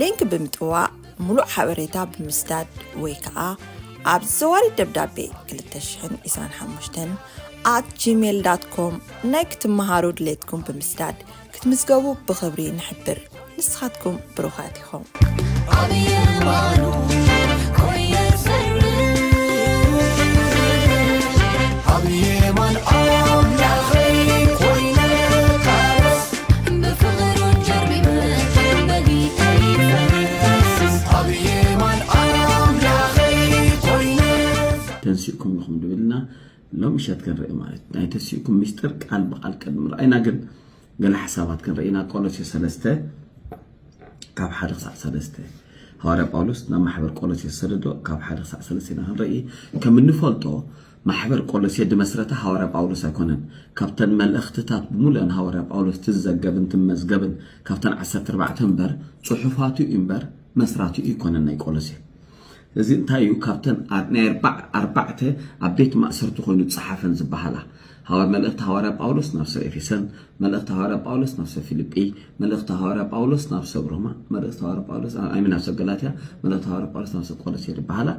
ሊንክ ብምጥዋቅ ሙሉእ ሓበሬታ ብምስዳድ ወይ ከዓ ኣብ ዘዋሪ ደብዳቤ 225 ኣት ጂሜል ዳት ኮም ናይ ክትመሃሩ ድሌትኩም ብምስዳድ ክትምዝገቡ ብኽብሪ ንሕብር ንስኻትኩም ብሩኻት ኢኹም ተንሲእኩም ኢኹም ድብልና ሎም ምሸት ክንርኢ ማለት ናይ ተንሲእኩም ሚስጥር ቃል ብቃል ቅድሚ ርኣይና ግን ገለ ሓሳባት ክንርኢ ኢና ቆሎሴ ሰለስተ ካብ ሓደ ክሳዕ ሰለስተ ሃዋርያ ጳውሎስ ናብ ማሕበር ቆሎሴ ዝሰደዶ ካብ ሓደ ክሳዕ ሰለስተ ኢና ክንርኢ ከም እንፈልጦ ማሕበር ቆሎሴ ድመስረታ ሃዋርያ ጳውሎስ ኣይኮነን። ካብተን መልእኽትታት ብምሉኣን ሃዋርያ ጳውሎስ ትዘገብን ትመዝገብን ካብተን ዓሰርተ ኣርባዕተ እምበር ጽሑፋቱ እዩ እምበር መስራቲኡ ኣይኮነን ናይ ቆሎሴ። እዚ እንታይ እዩ ካብተን ናይ ኣርባዕ ኣርባዕተ ኣብ ቤት ማእሰርቲ ኮይኑ ዝጸሓፈን ዝበሃላ ሃዋር መልእኽቲ ሃዋርያ ጳውሎስ ናብ ሰብ ኤፌሰን፣ መልእኽቲ ሃዋርያ ጳውሎስ ናብ ሰብ ፊልጲ፣ መልእኽቲ ሃዋርያ ጳውሎስ ናብ ሰብ ሮማ፣ መልእኽቲ ሃዋርያ ጳውሎስ ኣይሚ ናብ ሰብ ገላትያ፣ መልእኽቲ ሃዋርያ ጳውሎስ ናብ ሰብ ቆሎሴ ዝበሃላ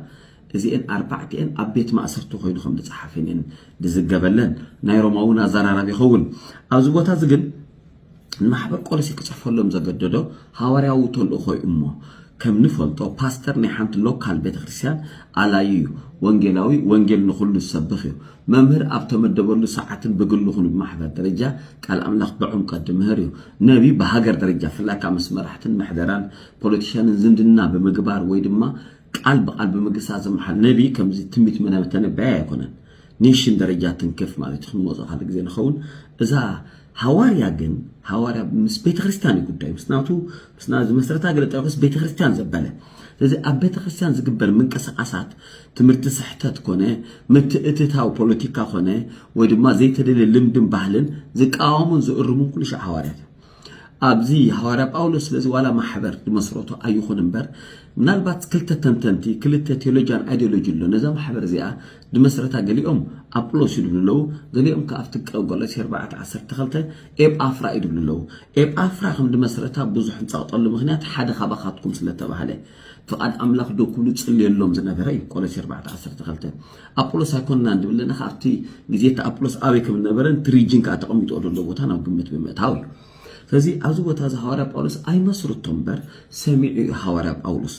እዚኤን ኣርባዕቲኤን ኣብ ቤት ማእሰርቲ ኮይኑ ከም ዝጸሓፈን እየን ዝዝገበለን። ናይ ሮማ እውን ኣዘራራቢ ይኸውን። ኣብዚ ቦታ እዚ ግን ንማሕበር ቆሎሴ ክጽሕፈሎም ዘገደዶ ሃዋርያዊ ተልእኾ እዩ እሞ ከም ንፈልጦ ፓስተር ናይ ሓንቲ ሎካል ቤተ ክርስቲያን ኣላዩ እዩ። ወንጌላዊ ወንጌል ንኹሉ ዝሰብኽ እዩ። መምህር ኣብ ተመደበሉ ሰዓትን ብግሉ ኹን ብማሕበር ደረጃ ቃል ኣምላኽ ብዕምቀት ዝምህር እዩ። ነቢ ብሃገር ደረጃ ብፍላይ ከዓ ምስ መራሕትን ምሕደራን ፖለቲሻንን ዝምድና ብምግባር ወይ ድማ ቃል ብቃል ብምግሳጽ ዝመሓል ነቢ ከምዚ ትንቢት መናብር ተነባይ ኣይኮነን ኔሽን ደረጃ ትንክፍ ማለት ክንመጾ ካልእ ግዜ ንኸውን እዛ ሃዋርያ ግን ሃዋርያ ምስ ቤተክርስትያን እዩ ጉዳዩ ምስ ናቱ ምስ ና ዝመስረታ ገለ ጠቅስ ቤተክርስትያን ዘበለ ስለዚ ኣብ ቤተክርስትያን ዝግበር ምንቅስቃሳት ትምህርቲ ስሕተት ኮነ ምትእትታው ፖለቲካ ኮነ ወይ ድማ ዘይተደልየ ልምድን ባህልን ዝቃወሙን ዝእርሙን ኩሉ ሻዕ ሃዋርያት እዮም ኣብዚ ሃዋርያ ጳውሎስ ስለዚ ዋላ ማሕበር ዝመስረቶ ኣይኹን እምበር ምናልባት ክልተ ተንተንቲ ክልተ ቴዎሎጂያን ኣይዲዮሎጂ ኣሎ ነዛ ማሕበር እዚኣ ዝመስረታ ገሊኦም ኣጵሎስ እዩ ዝብሉ ኣለዉ ገሊኦም ከዓ ኣብቲ ቆሎሴ ኣርባዕተ ዓሰርተ ክልተ ኤጳፍራ እዩ ዝብሉ ኣለዉ ኤጳፍራ ከም ዝመስረታ ብዙሕ እንጸቕጠሉ ምክንያት ሓደ ካባኻትኩም ስለተባህለ ፍቓድ ኣምላኽ ዶ ክብሉ ዝጽልየሎም ዝነበረ እዩ ቆሎሴ ኣርባዕተ ዓሰርተ ክልተ ኣጵሎስ ኣይኮንናን ዝብል ለና ከኣ ኣብቲ ግዜ እቲ ኣጵሎስ ኣበይ ከም ዝነበረን እቲ ሪጅን ከኣ ተቐሚጥኦ ዘሎ ቦታ ናብ ግምት ብምእታው እዩ ስለዚ ኣብዚ ቦታ እዚ ሃዋርያ ጳውሎስ ኣይመስርቶ እምበር ሰሚዑ እዩ ሃዋርያ ጳውሎስ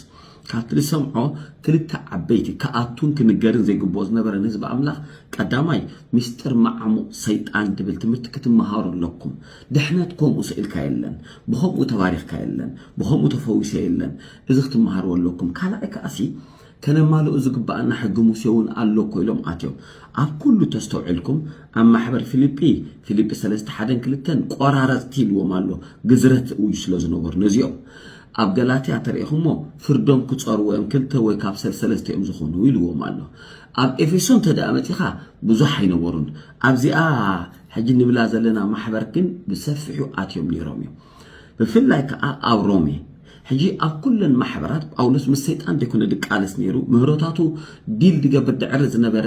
ካብቲ ዝሰምዖ ክልተ ዓበይቲ ክኣቱን ክንገርን ዘይግብኦ ዝነበረ ንህዝቢ ኣምላኽ ቀዳማይ ምስጢር መዓሙቕ ሰይጣን ትብል ትምህርቲ ክትመሃሩ ኣለኩም ድሕነት ኮምኡ ስኢልካ የለን ብከምኡ ተባሪኽካ የለን ብከምኡ ተፈዊሰ የለን እዚ ክትመሃርዎ ኣለኩም ካልኣይ ከኣሲ ከነማልኦ ዝግበኣና ሕጊ ሙሴ ውን ኣሎ እኮ ኢሎም ኣትዮም ኣብ ኩሉ ተስተውዒልኩም ኣብ ማሕበር ፊሊጲ ፊሊጲ ሰለስተ ሓደን ክልተን ቆራረጽቲ ኢልዎም ኣሎ ግዝረት እውጁ ስለ ዝነበሩ ነዚኦም ኣብ ገላትያ ተርእኹሞ ፍርዶም ክጸርዎ እዮም ክልተ ወይ ካብ ሰለሰለስተ እዮም ዝኾኑ ኢልዎም ኣሎ ኣብ ኤፌሶን ተደኣ መጺኻ ብዙሕ ኣይነበሩን ኣብዚኣ ሕጂ ንብላ ዘለና ማሕበር ግን ብሰፊሑ ኣትዮም ነይሮም እዮም ብፍላይ ከዓ ኣብ ሮሜ ሕጂ ኣብ ኩለን ማሕበራት ጳውሎስ ምስ ሰይጣን ዘይኮነ ድቃለስ ነይሩ ምህሮታቱ ዲል ድገብር ድዕሪ ዝነበረ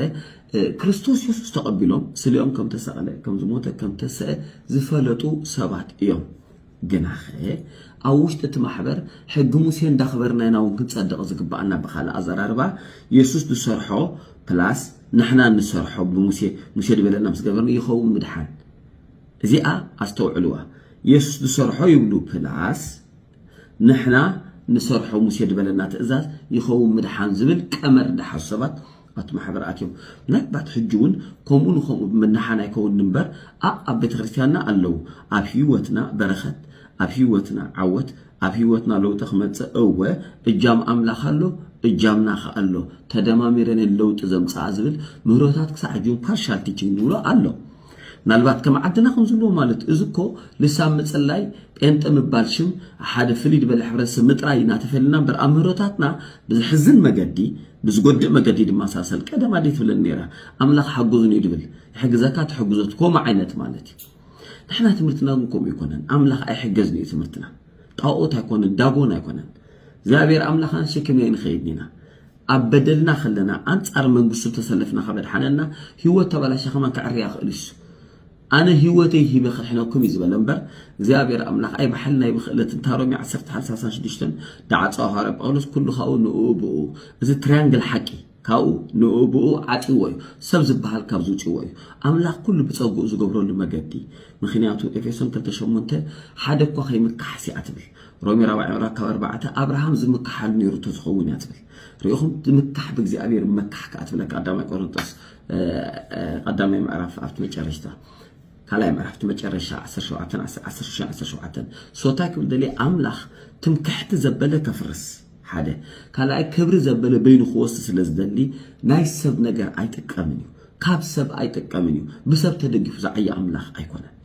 ክርስቶስ የሱስ ተቐቢሎም ስሊኦም ከም ተሰቕለ ከም ዝሞተ ከም ተሰአ ዝፈለጡ ሰባት እዮም ግናኸ ኣብ ውሽጢ እቲ ማሕበር ሕጊ ሙሴ እንዳኽበርና ኢና እውን ክንጸድቕ ዝግባኣና ብኻልእ ኣዘራርባ የሱስ ዝሰርሖ ፕላስ ንሕና እንሰርሖ ብሙሴ ሙሴ ዝበለና ምስ ገበርና ይኸውን ምድሓን እዚኣ ኣስተውዕልዋ የሱስ ዝሰርሖ ይብሉ ፕላስ ንሕና ንሰርሖ ሙሴ ዝበለና ትእዛዝ ይኸውን ምድሓን ዝብል ቀመር ዝሓዙ ሰባት ኣቲ ማሕበር ኣትዮም ናይ ባት ሕጂ ውን ከምኡ ንከምኡ ብመናሓን ኣይከውንን እምበር ኣኣብ ቤተክርስትያንና ኣለው ኣብ ሂወትና በረከት ኣብ ሂወትና ዓወት ኣብ ሂወትና ለውጢ ክመጽእ እወ እጃም ኣምላክ ኣሎ እጃምና ከኣ ኣሎ ተደማሚረን እየን ለውጢ ዘምጽኣ ዝብል ምህሮታት ክሳዕ ሕጂ ውን ፓርሻል ቲቺንግ ንብሎ ኣሎ ምናልባት ከም ዓድና ከምዝብልዎ ማለት እዚ እኮ ልሳን ምጽላይ ጴንጠ ምባል ሽም ሓደ ፍልይ ዝበለ ሕብረተሰብ ምጥራይ ኢና ተፈልና እምበር ኣምህሮታትና ብዘሕዝን መገዲ ብዝጎድእ መገዲ ድማ ሳሰል ቀደም ኣደይ ትብለን ነይራ ኣምላኽ ሓጉዝኒ ድብል ይሕግዘካ ትሕግዞት ከምኡ ዓይነት ማለት እዩ ንሕና ትምህርትና ግን ከምኡ ኣይኮነን ኣምላኽ ኣይሕገዝን እዩ ትምህርትና ጣኦት ኣይኮነን ዳጎን ኣይኮነን እግዚኣብሔር ኣምላኽ ኣንሸክምና ይንኸይድ ኢና ኣብ በደልና ከለና ኣንጻር መንግስቱ ተሰለፍና ከበድሓነና ሂወት ተባላሽያ ከማን ከዕርያ ይክእል እዩስ ኣነ ሂወተይ ሂበ ከድሕነኩም እዩ ዝበለ እምበር እግዚኣብሔር ኣምላክ ኣይ ብሓይልን ኣይ ብክእለትን እታ ሮሜ ዓሰርተ ሓምሳ ሓምሳን ሽዱሽተን ዳዓጽዋ ሃዋርያ ጳውሎስ ኩሉ ካብኡ ንእኡ ብእኡ እዚ ትሪያንግል ሓቂ ካብኡ ንእኡ ብእኡ ዓጽዎ እዩ ሰብ ዝበሃል ካብዚ ውጽዎ እዩ ኣምላክ ኩሉ ብጸግኡ ዝገብረሉ መገዲ ምክንያቱ ኤፌሶን ክልተ ሸሞንተ ሓደ እኳ ከይምካሓስ እያ ትብል ሮሜ ራብዓይ ምዕራፍ ካብ ኣርባዕተ ኣብርሃም ዝምካሓሉ ነይሩ ተዝኸውን እያ ትብል ሪኢኹም ዝምካሕ ብእግዚኣብሔር መካሕ ከዓ ትብለ ቀዳማይ ቆሮንጦስ ቀዳማይ ምዕራፍ ኣብቲ መጨረሽታ ካልኣይ ምዕራፍ እቲ መጨረሻ 17 17 ሶታይ ክብል ደልየ ኣምላኽ ትምክሕቲ ዘበለ ከፍርስ ሓደ ካልኣይ ክብሪ ዘበለ በይኑ ክወስድ ስለ ዝደሊ ናይ ሰብ ነገር ኣይጥቀምን እዩ ካብ ሰብ ኣይጥቀምን እዩ ብሰብ ተደጊፉ ዝዓየ ኣምላኽ ኣይኮነን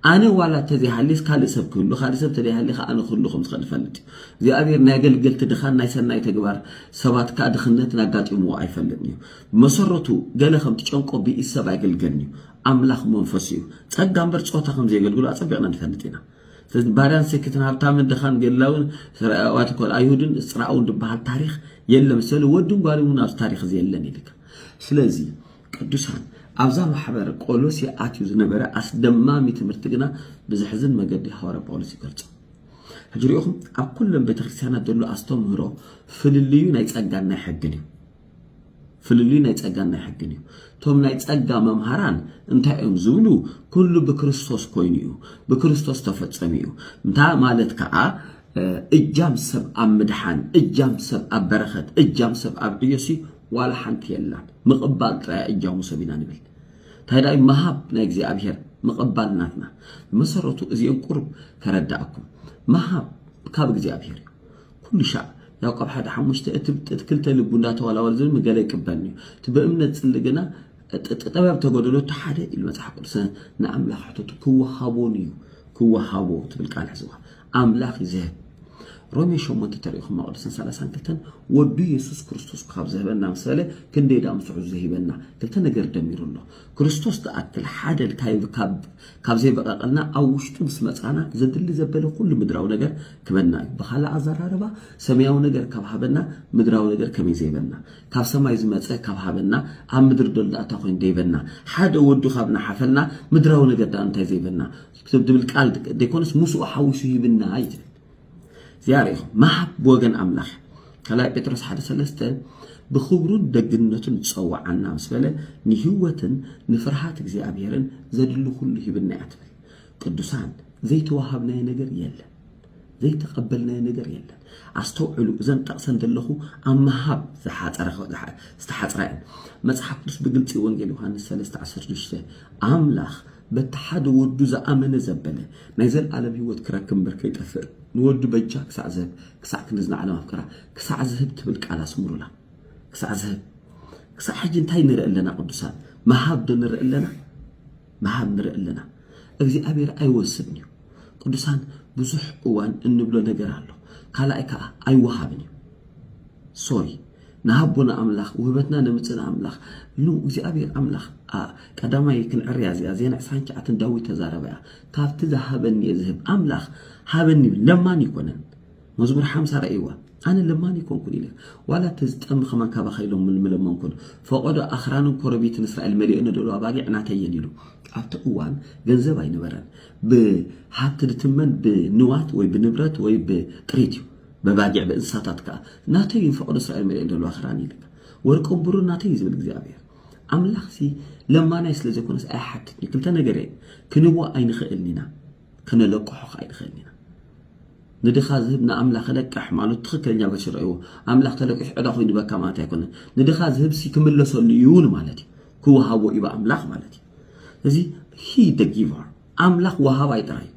ኣነ ዋላ እንተዘይሃልየስ ካልእ ሰብ ክህሉ ካልእ ሰብ እንተዘይሃልየ ከኣ ኣነ ክህሉ ከም ዝኽእል እፈልጥ እዩ። እግዚኣብሔር ናይ ኣገልገልቲ ድኻን ናይ ሰናይ ተግባር ሰባት ከኣ ድኽነትን ኣጋጢምዎ ኣይፈልጥን እዩ። ብመሰረቱ ገለ ከም ትጨንቆ ብኢድ ሰብ ኣይግልገልን እዩ። ኣምላኽ መንፈሱ እዩ። ጸጋ እምበር ጾታ ከም ዘየገልግሉ ኣጸቢቕና ንፈልጥ ኢና። ስለዚ ባርያን ሰኪትን ሃብታምን ድኻን ገላውን ሰራያዋት ኮል ኣይሁድን እስራውን ድበሃል ታሪኽ የለን። ሰለ ወድን ጓልን እውን ኣብዚ ታሪኽ እዚ የለን ኢልካ ስለዚ ቅዱሳን ኣብዛ ማሕበር ቆሎሴ ኣትዩ ዝነበረ ኣስደማሚ ትምህርቲ ግና ብዘሕዝን መገዲ ሃዋርያ ጳውሎስ ይገልጾ። ሕጂ ርኢኹም ኣብ ኩለን ቤተክርስትያናት ዘሎ ኣስተምህሮ ፍልልዩ ናይ ጸጋን ናይ ሕግን እዩ። ፍልልዩ ናይ ጸጋን ናይ ሕግን እዩ። እቶም ናይ ጸጋ መምሃራን እንታይ እዮም ዝብሉ? ኩሉ ብክርስቶስ ኮይኑ እዩ፣ ብክርስቶስ ተፈጸሙ እዩ። እንታ ማለት ከዓ እጃም ሰብ ኣብ ምድሓን፣ እጃም ሰብ ኣብ በረኸት፣ እጃም ሰብ ኣብ ዕዮሲ ዋላ ሓንቲ የላን ምቕባል ጥራይ እጃሙ ሰብ ኢና ንብል እንታይ ዳይ መሃብ ናይ እግዚኣብሔር ምቕባል ናትና መሰረቱ እዚኦም ቁርብ ከረዳእኩም መሃብ ካብ እግዚኣብሔር እዩ ኩሉ ሻዕ ያዕቆብ ሓደ ሓሙሽተ እቲ ክልተ ልቡ እንዳተዋላወል ዝብል ገለ ይቅበል እዩ እቲ ብእምነት ጽሊ ግና ጥበብ ተጎደሎ እቲ ሓደ ኢሉ መጽሓፍ ቅዱስ ንኣምላኽ ሕተቱ ክወሃቦን እዩ ክወሃቦ ትብል ቃል ሕዝዋ ኣምላኽ እዩ ዝህብ። ሮሜ ሸሞንተ ተሪኢኹም መቕደስን ሰላሳን ክልተን ወዱ የሱስ ክርስቶስ ካብ ዝህበና ምስ በለ ክንደይ ዳኣ ምስ ውሕዙ ሂበና ክልተ ነገር ደሚሩ ኣሎ። ክርስቶስ ዝኣክል ሓደ ልካዩ ካብ ዘይበቐቐልና ኣብ ውሽጡ ምስ መጻና ዘድሊ ዘበለ ኩሉ ምድራዊ ነገር ክበና እዩ። ብኻልእ ኣዘራርባ ሰማያዊ ነገር ካብ ሃበና ምድራዊ ነገር ከመይ ዘይበና ካብ ሰማይ ዝመጸ ካብ ሃበና ኣብ ምድሪ ደሎ ኣታ ኮይኑ ደይበና ሓደ ወዱ ካብ ናሓፈልና ምድራዊ ነገር ዳኣ እንታይ ዘይበና ትብል ቃል ዘይኮነስ ምስኡ ሓዊሱ ሂብና እዩ ትብል እዚኣ ርኢኹም መሃብ ብወገን ኣምላኽ ካልኣይ ጴጥሮስ ሓደ ሰለስተ ብኽብሩን ደግነቱን ጸዋዓና ምስ በለ ንህይወትን ንፍርሃት እግዚኣብሔርን ዘድሊ ኩሉ ሂብና እያ ትብል ቅዱሳን ዘይተዋሃብናዮ ነገር የለን ዘይተቐበልናዮ ነገር የለን ኣስተውዕሉ እዘን ጠቕሰን ዘለኹ ኣብ ምሃብ ዝተሓፅራ እየን መፅሓፍ ቅዱስ ብግልፂ ወንጌል ዮሃንስ 316 ኣምላኽ በቲ ሓደ ወዱ ዝኣመነ ዘበለ ናይ ዘልኣለም ህይወት ክረክብ እምበር ከይጠፍእ ንወዱ በጃ ክሳዕ ዝህብ ክሳዕ ክንዲ ዝናዓለም ኣፍቀራ ክሳዕ ዝህብ ትብል ቃል ኣስምሩላ ክሳዕ ዝህብ ክሳዕ ሕጂ እንታይ ንርኢ ኣለና ቅዱሳን ምሃብ ዶ ንርኢ ኣለና ምሃብ ንርኢ ኣለና እግዚኣብሔር ኣይወስድን እዩ ቅዱሳን ብዙሕ እዋን እንብሎ ነገር ኣሎ ካልኣይ ከዓ ኣይወሃብን እዩ ሶሪ ንሃቦና ኣምላኽ ውህበትና ነምጽእን ኣምላኽ ን እግዚኣብሔር ኣምላኽ a ቀዳማይ ክንዕርያ እዚኣ ዜና ዕስራን ትሽዓተን ዳዊት ተዛረባ እያ ካብቲ ዝሃበኒ እየ ዝህብ ኣምላኽ ሃበኒ ይብል ለማኒ ኣይኮነን መዝሙር ሓምሳ ረእይዋ ኣነ ለማኒ ኣይኮንኩን ኢለ ዋላ እቲ ዝጠሚ ከማን ካባኻ ኢሎም ምለመንኩን ፈቐዶ ኣኽራንን ኮረቢትን እስራኤል መሊኦ ነደሉ ኣባጊዕ ናተይ እየን ኢሉ ኣብቲ እዋን ገንዘብ ኣይነበረን ብሃብቲ ድትመን ብንዋት ወይ ብንብረት ወይ ብጥሪት እዩ በባጊዕ ብእንስሳታት ከኣ ናተይ እዩ ፈቐዶ እስራኤል መሊኤን ዘለዋ ክራን እዩ ልካ ወርቅን ብሩርን ናተይ እዩ ዝብል እግዚኣብሄር ኣምላኽሲ ለማናይ ስለ ዘይኮነስ ኣይሓትትንዩ ክልተ ነገር እየ ክንቦ ኣይንኽእልን ኢና ከነለቅሖ ከ ኣይንኽእልን ኢና ንድኻ ዝህብ ንኣምላኽ ክለቅሕ ማለት ትኽክለኛ በሽር እዎ ኣምላኽ ተለቂሑ ዕዳ ኮይኑ በካ ማለት ኣይኮነን ንድኻ ዝህብ ሲ ክምለሰሉ እዩ ማለት እዩ ክወሃቦ እዩ ኣምላኽ ማለት እዩ እዚ ሂ ደ ጊቨር ኣምላኽ ወሃባይ ጥራይ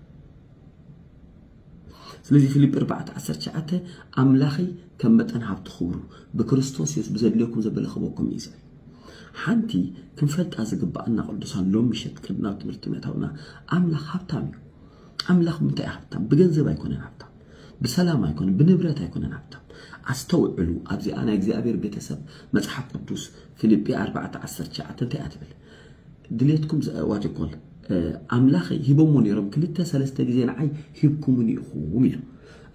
ስለዚ ፊልጵ ኣርባዕተ ዓሰርተ ትሽዓተ ኣምላኸይ ከም መጠን ሃብቲ ክብሩ ብክርስቶስ የሱስ ብዘድልየኩም ዘበለ ክህበኩም እዩ ዝብል ሓንቲ ክንፈልጣ ዝግባኣና ቅዱሳን ሎም ምሸት ቅድና ትምህርቲ ምእታውና ኣምላኽ ሃብታም እዩ ኣምላኽ ምንታይ ሃብታም ብገንዘብ ኣይኮነን ሃብታም ብሰላም ኣይኮነን ብንብረት ኣይኮነን ሃብታም ኣስተውዕሉ ኣብዚኣ ናይ እግዚኣብሔር ቤተሰብ መጽሓፍ ቅዱስ ፊልጵ 4 19 እንታይ እያ ትብል ድሌትኩም ዋት ዩ ኮል ኣምላኸይ ሂቦሞ ነይሮም ክልተ ሰለስተ ግዜ ንዓይ ሂብኩምኒ ኢኹም ኢሉ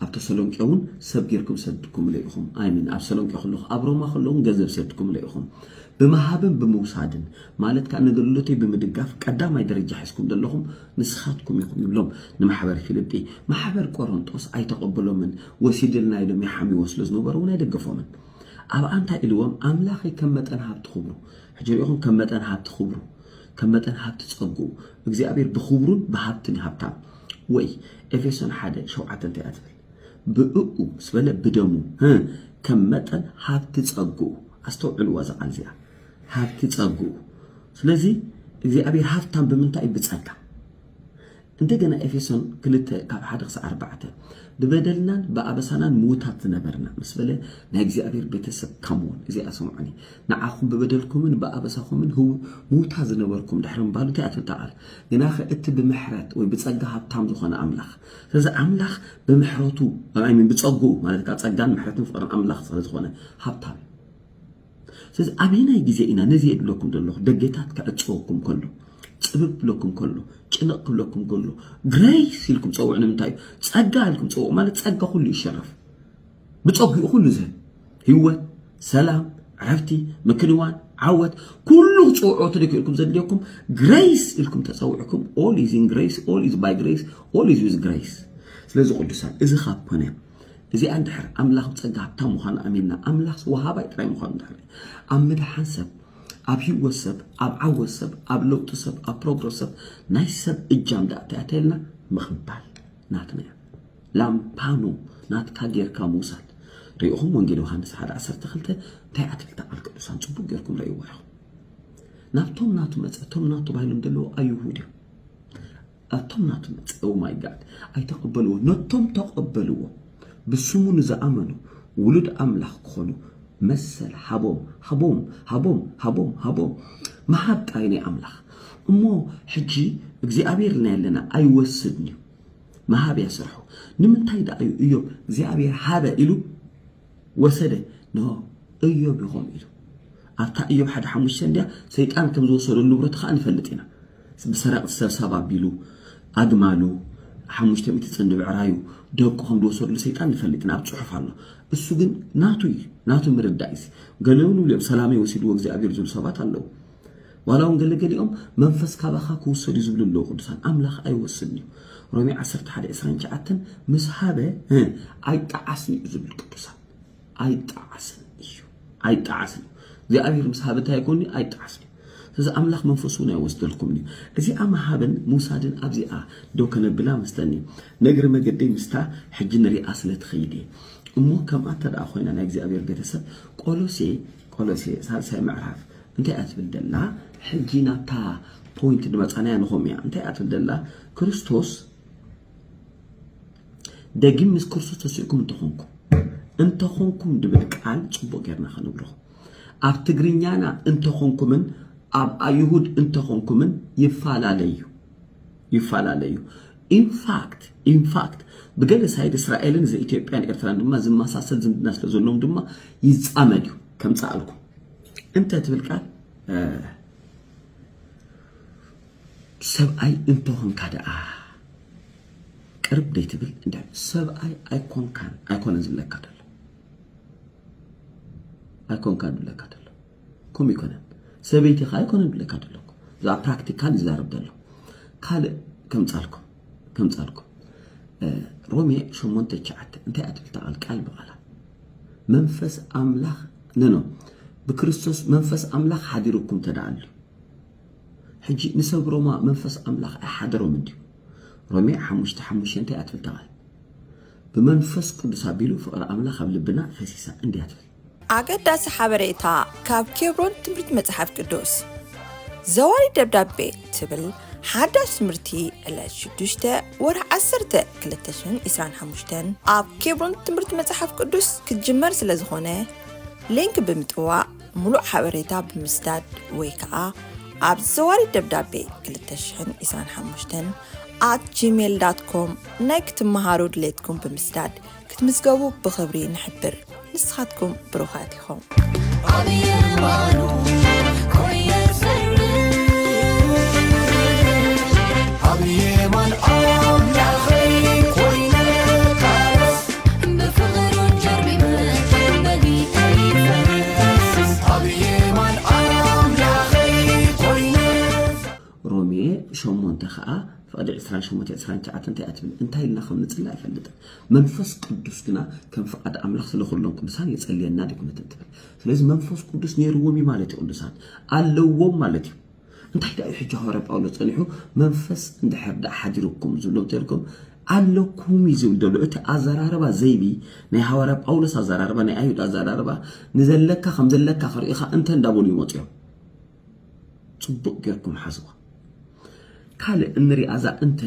ኣብ ተሰሎንቄ እውን ሰብ ጌርኩም ሰድኩምለ ኢኹም ኣይምን ኣብ ሰሎንቄ ከለኹ ኣብ ሮማ ከለኹን ገንዘብ ሰድኩምለ ኢኹም ብምሃብን ብምውሳድን ማለት ከዓ ነገልግሎተይ ብምድጋፍ ቀዳማይ ደረጃ ሒዝኩም ዘለኹም ንስኻትኩም ኢኹም ይብሎም ንማሕበር ፊልጲ ማሕበር ቆሮንጦስ ኣይተቐበሎምን ወሲድልና ኢሎም ይሓምዎ ስለ ዝነበሩ እውን ኣይደገፎምን ኣብኣ እንታይ ኢልዎም ኣምላኸይ ከም መጠን ሃብቲ ክብሩ ሕጂ ርኢኹም ከም መጠን ሃብቲ ክብሩ ከም መጠን ሃብቲ ጸግኡ እግዚኣብሔር ብክብሩን ብሃብትን እዩ ሃብታም ወይ ኤፌሶን ሓደ ሸውዓተ እንታይ እያ ትብል ብእኡ ምስ በለ ብደሙ ከም መጠን ሃብቲ ጸግኡ ኣስተውዕልዋ እዛ ቃል እዚኣ ሃብቲ ጸግኡ ስለዚ እግዚኣብሔር ሃብታም ብምንታይ እዩ ብጸጋ እንደገና ኤፌሶን ክልተ ካብ ሓደ ክሳዕ ኣርባዕተ ብበደልናን ብኣበሳናን ምዉታት ዝነበርና ምስ በለ ናይ እግዚኣብሔር ቤተሰብ ካምውን እዚኣ ሰምዑኒ ንዓኹም ብበደልኩምን ብኣበሳኹምን ህው ምዉታት ዝነበርኩም ድሕሪ ምባሉ እንታይ እያ ቃል ግናኸ እቲ ብምሕረት ወይ ብጸጋ ሃብታም ዝኾነ ኣምላኽ ስለዚ ኣምላኽ ብምሕረቱ ብጸግኡ ማለት ጸጋን ምሕረትን ፍቅርን ኣምላኽ ስለ ዝኾነ ሃብታም ስለዚ ኣበየናይ ግዜ ኢና ነዚ የድለኩም ዘለኹ ደገታት ክዕጸወኩም ከሎ ጽብብ ክብለኩም ከሎ ጭንቕ ክብለኩም ከሎ ግሬስ ኢልኩም ጸውዕ ንምንታይ እዩ ጸጋ ኢልኩም ጸውዕ ማለት ጸጋ ኩሉ ይሸረፍ ብጸጉኡ ኩሉ ዝህብ ህይወት ሰላም ዕረፍቲ ምክንዋን ዓወት ኩሉ ክጽውዖ ትደክ ኢልኩም ዘድልየኩም ግሬስ ኢልኩም ተጸውዕኩም ኦል ኢዝ ኢን ግሬስ ኦል ኢዝ ባይ ግሬስ ኦል ኢዝ ዊዝ ግሬስ ስለዚ ቅዱሳን እዚ ካብ ኮነ እዚኣ እንድሕር ኣምላኽ ብጸጋ ሃብታም ምዃኑ ኣሚንና ኣምላኽ ወሃባይ ጥራይ ምዃኑ እንድሕር ኣብ ምድሓን ሰብ ኣብ ህይወት ሰብ ኣብ ዓወት ሰብ ኣብ ለውጢ ሰብ ኣብ ፕሮግረስ ሰብ ናይ ሰብ እጃም ደኣ ተያተልና ምቕባል ናትና እያ ላምፓኑ ናትካ ጌርካ ምውሳድ ርኢኹም ወንጌል ዮሃንስ 1 12 እንታይ ኣትክልቲ ቃል ቅዱሳን ጽቡቅ ጌርኩም ረእይዎ ኢኹም ናብቶም ናቱ መጸ እቶም ናቱ ባይሎም ደለዎ ኣይሁድ እዮም ኣቶም ናቱ መጸ ኦ ማይ ጋድ ኣይተቀበልዎ ነቶም ተቀበልዎ ብስሙ ንዝኣመኑ ውሉድ ኣምላኽ ክኾኑ መሰል ሃቦም ሃቦም ሃቦም ሃቦም ሃቦም ምሃብ ጥራይ ናይ ኣምላኽ እሞ ሕጂ እግዚኣብሔር ልና ኣለና ኣይወስድን እዩ ምሃብ እያ ስርሑ ንምንታይ ደኣ እዩ እዮብ እግዚኣብሔር ሃበ ኢሉ ወሰደ ን እዮብ ይኾም ኢሉ ኣብታ እዮብ ሓደ ሓሙሽተ እንድያ ሰይጣን ከም ዝወሰዶ ንብረቱ ከዓ ንፈልጥ ኢና ብሰረቕቲ ሰብሳብ ኣቢሉ ኣግማሉ ሓሙሽተ ሚእቲ ጽንዲ ብዕራዩ ደቁ ከም ዝወሰድሉ ሰይጣን ንፈልጥ ኢና ኣብ ጽሑፍ ኣሎ እሱ ግን ናቱ እዩ ናቱ ምርዳእ እዩ ገለ እውን ይብሉ ሰላመይ ወሲድዎ እግዚኣብሔር ዝብሉ ሰባት ኣለዉ ዋላ እውን ገለ ገሊኦም መንፈስ ካባኻ ክውሰድ እዩ ዝብሉ ኣለዉ ቅዱሳን ኣምላኽ ኣይወስድን እዩ ሮሜ 11 29 ምስ ሃበ ኣይጠዓስን እዩ ዝብል ቅዱሳን ኣይጣዓስን እዩ ኣይጣዓስን እዩ እግዚኣብሔር ምስ ሃብ እንታይ ይኮን ኣይጣዓስን እዩ ስለዚ ኣምላኽ መንፈሱ እውን ኣይወስደልኩም እዩ እዚኣ ምሃብን ምውሳድን ኣብዚኣ ደው ከነብላ መስተኒ ነግሪ መገደይ ምስታ ሕጂ ንሪኣ ስለ ትኸይድ እየ እሞ ከምኣ እንተ ደኣ ኮይና ናይ እግዚኣብሔር ቤተሰብ ቆሎሴ ቆሎሴ ሳልሳይ ምዕራፍ እንታይ እያ ትብል ደላ ሕጂ ናብታ ፖይንት ንመጻናያ ንኾም እያ እንታይ እያ ትብል ደላ ክርስቶስ ደጊም ምስ ክርስቶስ ተሲእኩም እንተኾንኩም እንተኾንኩም ድብል ቃል ጽቡቅ ጌርና ከንብሮ ኣብ ትግርኛና እንተኾንኩምን ኣብ ኣይሁድ እንተኾንኩምን ይፈላለዩ ይፈላለዩ ኢንፋክት ኢንፋክት ብገለ ሳይድ እስራኤልን ዘኢትዮጵያን ኤርትራን ድማ ዝመሳሰል ዝምድና ስለ ዘለዎም ድማ ይዛመድ እዩ ከምፀኣልኩም እንተ ትብል ቃል ሰብኣይ እንተኾንካ ደኣ ቅርብ ደይትብል እንዳ ሰብኣይ ኣይኮንካን ኣይኮነን ዝብለካ ደሎ ኣይኮንካን ዝብለካ ደሎ ከምኡ ይኮነን ሰበይቲ ከ ኣይኮነን ዝብለካ ደሎ ብዛዕባ ፕራክቲካል ይዛረብ ደሎ ካልእ ከምጻልኩም ከምጻልኩም ሮሜ ሸሞንተ ትሽዓተ እንታይ እያ ትብል ታቃል ቃል ብቃላ መንፈስ ኣምላኽ ነኖ ብክርስቶስ መንፈስ ኣምላኽ ሓዲሩኩም ተደኣሉ ሕጂ ንሰብ ሮማ መንፈስ ኣምላኽ ኣይሓደሮም እንድዩ ሮሜ ሓሙሽተ ሓሙሸንተ እያ ትብል እታ ቃል። ብመንፈስ ቅዱስ ኣቢሉ ፍቕሪ ኣምላኽ ኣብ ልብና ፈሲሳ እንድያ ትብል። ኣገዳሲ ሓበሬታ ካብ ኬብሮን ትምህርቲ መጽሓፍ ቅዱስ ዘዋሪ ደብዳቤ ትብል ሓዳሽ ትምህርቲ ዕለት ሽዱሽተ ወርሒ ዓሰርተ ክልተ ሽሕን ዒስራን ሓሙሽተን ኣብ ኬብሮን ትምህርቲ መጽሓፍ ቅዱስ ክትጅመር ስለ ዝኾነ ሊንክ ብምጥዋቕ ምሉእ ሓበሬታ ብምስዳድ ወይ ከዓ ኣብ ዘዋሪ ደብዳቤ 225 ኣት ጂሜል ዳት ኮም ናይ ክትመሃሩ ድሌትኩም ብምስዳድ ክትምዝገቡ ብኽብሪ ንሕብር ንስኻትኩም ብሩኻት ኢኹም ኣብ የማን ኣምላኸይ ኮይነ ካረስ ሮሜ ሸሞንተ ከዓ ፍቕዲ ዕስራን ሸሞንተ ዕስራን ትሽዓተን እንታይ እያ ትብል እንታይ ኢልና ከም ንፅሊ ኣይፈልጥን መንፈስ ቅዱስ ግና ከም ፍቓድ ኣምላኽ ስለ ኩሎም ቅዱሳን የጸልየና ድግምትን ትብል ስለዚ መንፈስ ቅዱስ ነይርዎም እዩ ማለት እዩ ቅዱሳን ኣለዎም ማለት እዩ እንታይ ደኣ እዩ ሕጂ ሃዋርያ ጳውሎስ ጸኒሑ መንፈስ እንድሕር ደኣ ሓዲሩኩም ዝብሎም ተልኩም ኣለኩም እዩ ዝብል ዘሎ እቲ ኣዘራርባ ዘይቢ ናይ ሃዋርያ ጳውሎስ ኣዘራርባ ናይ ኣይሁድ ኣዘራርባ ንዘለካ ከም ዘለካ ክርእኻ እንተ እንዳበሉ ይመፁ እዮም ፅቡቅ ጌርኩም ሓዝዋ ካልእ እንሪኣ እዛ እንተ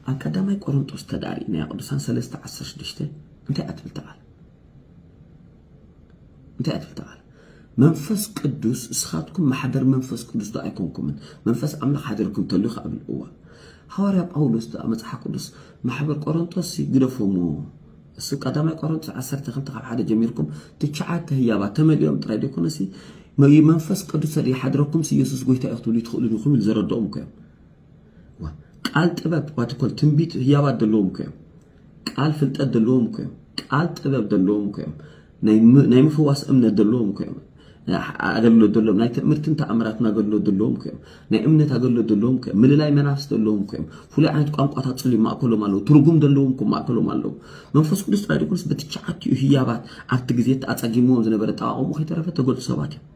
ኣብ ቀዳማይ ቆሮንጦስ ተዳሪእናያ ቅዱሳን 3 16 እንታይ እያ ትብል ተቓል እንታይ ትብል እታ ቃል መንፈስ ቅዱስ ንስኻትኩም ማሕደር መንፈስ ቅዱስ ዶ ኣይኮንኩምን መንፈስ ኣምላኽ ሓደርኩም ተሉ ካብ እዋ ሃዋርያ ጳውሎስ ዶ መጽሓፍ ቅዱስ ማሕበር ቆሮንቶስ ግደፎሞ እሱ ቀዳማይ ቆሮንቶስ 12 ካብ ሓደ ጀሚርኩም ትሽዓተ ህያባት ተመሊኦም ጥራይ ደይኮነሲ መንፈስ ቅዱስ ይሓድረኩም ኢየሱስ ጎይታ እዩ ክትብሉ ትኽእሉ ኢኹም ዝረድኦም እኮ እዮም ቃል ጥበብ ዋትኮል ትንቢት ህያባት ዘለዎም እኮ እዮም ቃል ፍልጠት ዘለዎም እኮ እዮም ቃል ጥበብ ዘለዎም እኮ እዮም ናይ ምፍዋስ እምነት ዘለዎም እኮ እዮም ኣገልግሎት ዘለዎም ናይ ትእምርትን ተኣምራትን ኣገልግሎት ዘለዎም እኮ እዮም ናይ እምነት ኣገልግሎት ዘለዎም እኮ እዮም ምልላይ መናፍስ ዘለዎም እኮ እዮም ፍሉይ ዓይነት ቋንቋታት ፅሉ ማእከሎም ኣለዉ ትርጉም ዘለዎም እኮ ማእከሎም ኣለዉ መንፈስ ቅዱስ ጥራይ ድኩንስ በቲ ሸዓቲኡ ህያባት ኣብቲ ግዜ ኣፀጊምዎም ዝነበረ ጠቃቆሙ ከይተረፈ ተገልፁ ሰባት እዮም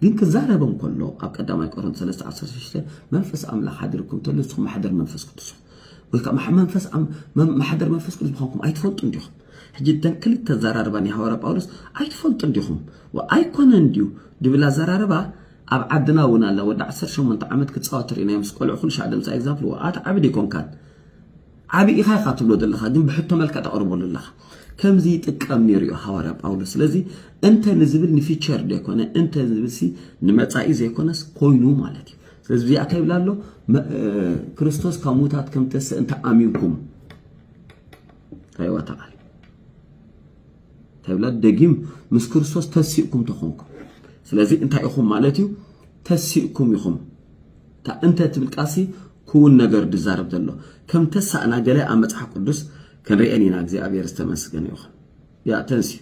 ግን ክዛረበም ከሎ ኣብ ቀዳማይ ቆሮንት 3:16 መንፈስ ኣምላኽ ሓዲርኩም እንተሎ ንስኹም ማሕደር መንፈስ ቅዱስ ወይ ከዓ መንፈስ ማሕደር መንፈስ ቅዱስ ምዃንኩም ኣይትፈልጡ እንዲኹም ሕጂ እተን ክልተ ኣዘራርባ ናይ ሃዋርያ ጳውሎስ ኣይትፈልጡ እንዲኹም ኣይኮነ እንድዩ ድብል ኣዘራርባ ኣብ ዓድና እውን ኣላ ወዲ 18 ዓመት ክፃወት ርኢናዮ ምስ ቆልዑ ኩሉ ሻዕ ድምፂ ኣይግዛፍልዎ ኣቲ ዓብድ ኣይኮንካን ዓቢ ኢኻ ኢኻ ትብሎ ዘለኻ ግን ብሕቶ መልክዕ ተቕርበሉ ኣለኻ ከምዚ ይጥቀም ነይሩ እዩ ሃዋርያ ጳውሎስ ስለዚ እንተ ንዝብል ንፊቸር ዘይኮነ እንተ ዝብልሲ ንመጻኢ ዘይኮነስ ኮይኑ ማለት እዩ ስለዚ እዚኣ እንታይ ይብላ ኣሎ ክርስቶስ ካብ ሙታት ከም ተስእ እንተ ኣሚንኩም ታይዋ ተቓል ተብላ ደጊም ምስ ክርስቶስ ተሲእኩም ተኾንኩም ስለዚ እንታይ ኢኹም ማለት እዩ ተሲእኩም ኢኹም እታ እንተ ትብል ቃልሲ ክውን ነገር ድዛረብ ዘሎ ከም ተሳእና ገለ ኣብ መፅሓፍ ቅዱስ ክንርኤን ኢና እግዚኣብሔር ዝተመስገነ ይኹን ያ ተንሲ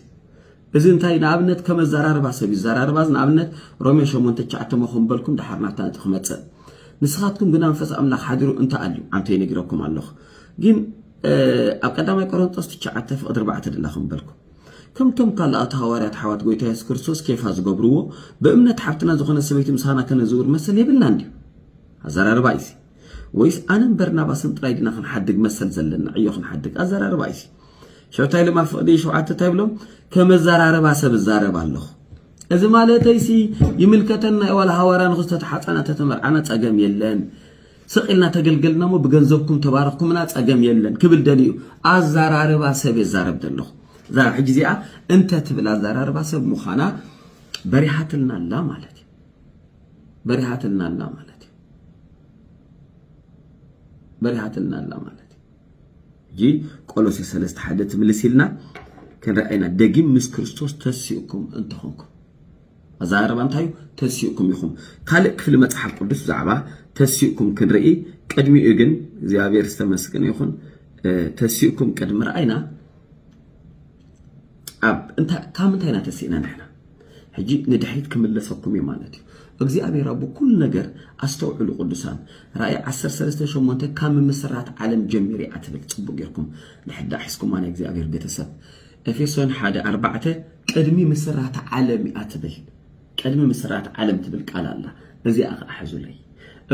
እዚ እንታይ ንኣብነት ከም ኣዘራርባ ሰብ ይዘራርባ እዚ ንኣብነት ሮሜ ሸሞንተ ትሽዓተ መኹም በልኩም ድሓር ናብታ ነጥቢ ክመፅእ ንስኻትኩም ግና መንፈስ ኣምላኽ ሓዲሩ እንተ ኣልዩ ኣንተ ይነግረኩም ኣለኹ ግን ኣብ ቀዳማይ ቆሮንጦስ ትሽዓተ ፍቕዲ ኣርባዕተ ድላ ከም በልኩ ከምቶም ካልኣት ሃዋርያት ኣሕዋት ጎይታ የሱስ ክርስቶስ ኬፋ ዝገብርዎ ብእምነት ሓብትና ዝኾነ ሰበይቲ ምሳና ከነዝውር መሰል የብልና እንድዩ ኣዘራርባ እዩሲ ወይስ ኣነን በርናባስን ጥራይ ድና ክንሓድግ መሰል ዘለና ዕዮ ክንሓድግ ኣዘራርባ እዩሲ ሸብታይ ልማ ፍቕዲ ሸውዓተ እንታይ ብሎም ከመዘራርባ ሰብ እዛረብ ኣለኹ እዚ ማለተይሲ ይምልከተና ዋላ ሃዋርያ ንክዝተተሓፃና ተተመርዓና ፀገም የለን ስቅ ኢልና ተገልገልናሞ ብገንዘብኩም ተባርኽኩምና ጸገም የለን ክብል ደልዩ ኣዛራርባ ሰብ የዛረብ ዘለኹ እዛ ሕጂ እዚኣ እንተ ትብል ኣዛራርባ ሰብ ምዃና በሪሃትልና ኣላ ማለት እዩ በሪሃትልና ኣላ ማለት እዩ በሪሃትልና ኣላ ማለት እዩ ሕጂ ቆሎሴ ሰለስተ ሓደ ትምልስ ኢልና ክንርኣይና ደጊም ምስ ክርስቶስ ተሲእኩም እንተኾንኩም ኣዘራርባ እንታይ እዩ ተሲእኩም ኢኹም ካልእ ክፍሊ መጽሓፍ ቅዱስ ብዛዕባ ተሲእኩም ክንርኢ ቅድሚኡ ግን እግዚኣብሔር ዝተመስገነ ይኹን ተሲእኩም ቅድሚ ረኣይና ኣብ እንታይ ካብ ምንታይ ኢና ተሲእና ንሕና ሕጂ ንድሕሪት ክምለሰኩም እዩ ማለት እዩ እግዚኣብሔር ኣብ ኩሉ ነገር ኣስተውዕሉ ቅዱሳን ራእይ 138 ካብ ምምስራት ዓለም ጀሚሩ እያ ትብል ጽቡቅ ጌርኩም ንሕዳ ሒዝኩማ ናይ እግዚኣብሔር ቤተሰብ ኤፌሶን ሓደ ኣርባዕተ ቅድሚ ምስራተ ዓለም እያ ትብል ቅድሚ ምስራተ ዓለም ትብል ቃል ኣላ እዚኣ ከዓ ሕዙለይ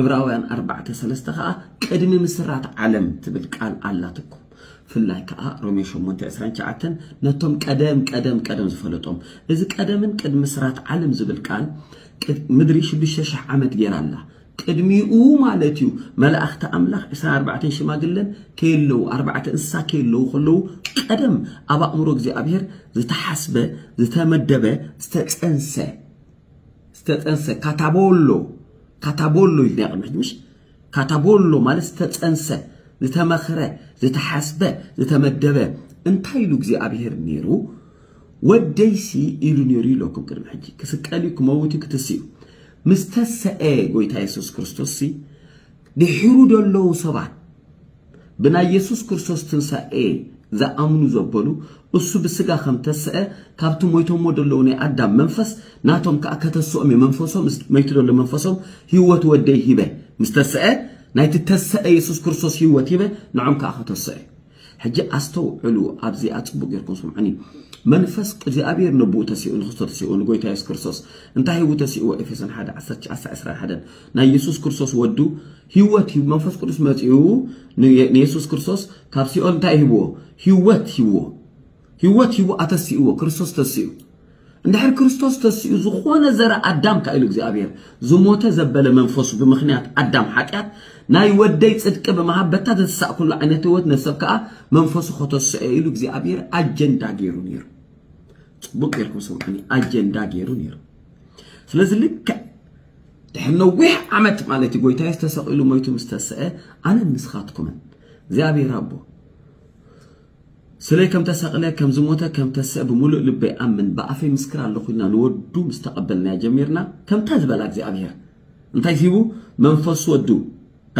እብራውያን ኣርባዕተ ሰለስተ ከዓ ቅድሚ ምስራተ ዓለም ትብል ቃል ኣላትኩም ፍላይ ከዓ ሮሜ ሸሞንተ ዕስራን ትሽዓተን ነቶም ቀደም ቀደም ቀደም ዝፈለጦም እዚ ቀደምን ቅድሚ ምስራት ዓለም ዝብል ቃል ምድሪ ሽዱሽተ ሽሕ ዓመት ጌራ ኣላ ቅድሚኡ ማለት እዩ መላእኽቲ ኣምላኽ ዕስራን ኣርባዕተን ሽማግለን ከየለዉ ኣርባዕተ እንስሳ ከየለዉ ከለዉ ቀደም ኣብ ኣእምሮ እግዚኣብሔር ዝተሓስበ ዝተመደበ ዝተፀንሰ ዝተፀንሰ ካታቦሎ ካታቦሎ ኢልና ቅድሚ ሕጂ ምሽ ካታቦሎ ማለት ዝተፀንሰ ዝተመኽረ ዝተሓስበ ዝተመደበ እንታይ ኢሉ እግዚኣብሔር ነይሩ ወደይሲ ኢሉ ነይሩ ኢለኩም ቅድሚ ሕጂ ክስቀል እዩ ክመውት እዩ ክትስ እዩ ምስ ተሰኤ ጎይታ የሱስ ክርስቶስሲ ድሒሩ ደለዉ ሰባት ብናይ የሱስ ክርስቶስ ትንሳኤ ዝኣምኑ ዘበሉ እሱ ብስጋ ከም ተሰኤ ካብቲ ሞይቶሞ ደለዉ ናይ ኣዳም መንፈስ ናቶም ከኣ ከተስኦም እየ መንፈሶም ምስ መይቱ ደሎ መንፈሶም ህይወት ወደይ ሂበ ምስ ተሰኤ ናይቲ ተሰኤ የሱስ ክርስቶስ ህይወት ሂበ ንዖም ከኣ ከተሰኦ እየ ሕጂ ኣስተውዕሉ ኣብዚኣ ጽቡቅ ጌርኩም ስምዑኒ መንፈስ እግዚኣብሄር ነብኡ ተሲኡ ንክርስቶ ተሲኡ ንጎይታ የሱስ ክርስቶስ እንታይ ሂቡ ተሲእዎ ኤፌሶን ሓደ ዓሰርተ ትሽዓተ ዕስራን ሓደን ናይ የሱስ ክርስቶስ ወዱ ህይወት ሂቡ መንፈስ ቅዱስ መጺኡ ንየሱስ ክርስቶስ ካብ ሲኦል እንታይ ሂብዎ ህይወት ሂብዎ ህይወት ሂቡ ኣተሲእዎ ክርስቶስ ተሲኡ እንድሕር ክርስቶስ ተሲኡ ዝኾነ ዘረ ኣዳም ካኢሉ እግዚኣብሔር ዝሞተ ዘበለ መንፈሱ ብምኽንያት ኣዳም ሓጢኣት ናይ ወደይ ጽድቂ ብምሃብ በታ ዘተሳእኩሉ ዓይነት ህይወት ነሰብ ከዓ መንፈሱ ከተስኦ ኢሉ እግዚኣብሔር ኣጀንዳ ገይሩ ነይሩ ጽቡቅ ጌርኩም ስምዑኒ ኣጀንዳ ገይሩ ነይሩ ስለዚ ልክዕ ድሕሪ ነዊሕ ዓመት ማለት እዩ ጎይታ ተሰቂሉ ሞይቱ ምስ ተስአ ኣነ ንስኻትኩምን እግዚኣብሔር ኣቦ ስለይ ከም ተሰቅለ ከም ዝሞተ ከም ተሰእ ብምሉእ ልበይ ኣምን ብኣፈይ ምስክር ኣለኩ ኢልና ንወዱ ምስ ተቀበልናዮ ጀሚርና ከምታ ዝበላ እግዚኣብሄር እንታይ ሂቡ መንፈሱ ወዱ